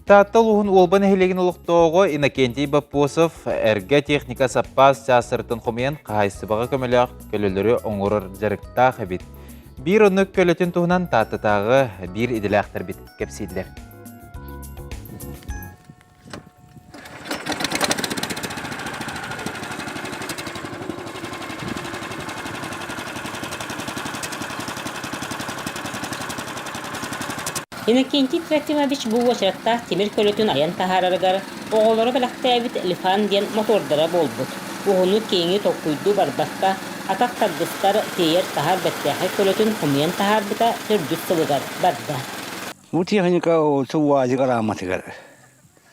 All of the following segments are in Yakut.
Таатта улууһун Уолба нэһилиэгин олохтооҕо Иннокентий Боппосов эргэ техника саппаас чаастарытын хомуйан хаһаайыстыбаҕа көмөлөөх көлөлөрү оҥорор дьарыктаах эбит. Биир оннук көлөтүн туһунан Тааттатааҕы биир идэлээхтэрбит кэпсииллэр. Иннокентий Трофимович бу уочараттаах тимир көлөтүн айан таһаарарыгар оҕолоро бэлэхтээбит Лифан диэн мотуордара буолбут. Уһуну киэҥи толкуйдуу барбакка, атах тардыстар, тиэйэр-таһар бэртээхэй көлөтүн хомуйан таһаарбыта төрдүс сылыгар барда. Бу техника уоту УАЗик арааматыгар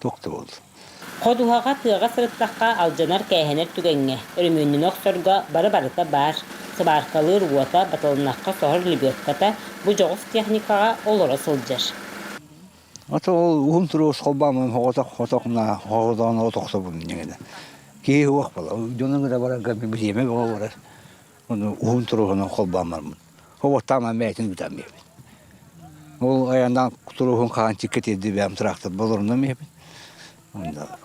туох да буоллун. Ходуһаҕа тыаҕа сырыттахха алдьанар-кээһэнэр түгэҥҥэ, өрөмүөннэнэ охсорго бары-барыта баар, сыбааркалыыр уота, батылыннахха соһор лебедката бу дьоҕус техникаҕа олоро сылдьар. Ата ол уһун туруос холбаамын хотох-хотох на хоһоотоон от охсобун дьиҥинэ. Киһи уох бала дьонун гына барарга бириэмэ бөҕө барар. Ону уһун туруһунан холбаан барбыт. Оботтааман бэйэтин бүтэрмиэбит. Ол айаннаан туруһун хаан чиккэ тиэрди бэйэм трактор болорунам иһэбин. Онда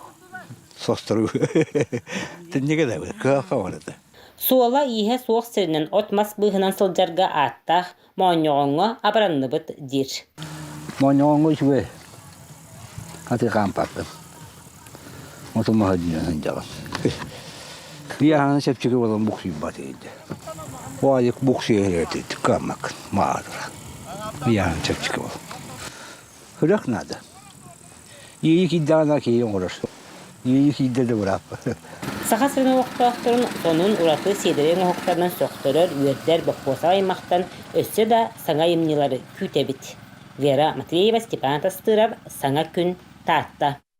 состору тэннигэ да кыаха барыта. Суола-ииһэ суох сиринэн от-мас быыһынан сылдьарга ааттаах моонньоҕоҥҥо абыранныбыт диир. Моонньоҕоҥҥо үчүгэй. Аты хаампаппын. Оту маһы диэн сылдьаҕын. Ыйааһыны сөпчүтүк олорон буксуйбат эйдэ. Бу айык буксуйа иһэрэтит кыаммак маатыра. Ыйааһын сөпчүкү олор. Үрэх наада. Иэйи кийдэҕинэ киһи оҥорор. Иэйи кийдэ да бырааппыт. Саха сирин олохтоохторун сонун ураты сиэдэрэй оҥоһуктарынан сөхтөрөр үөрдэр боппуосах аймахтан өссө да саҥа айымньылары күүтэбит. Вера Матвеева, Степан Тастыров, Саҥа күн, Таатта.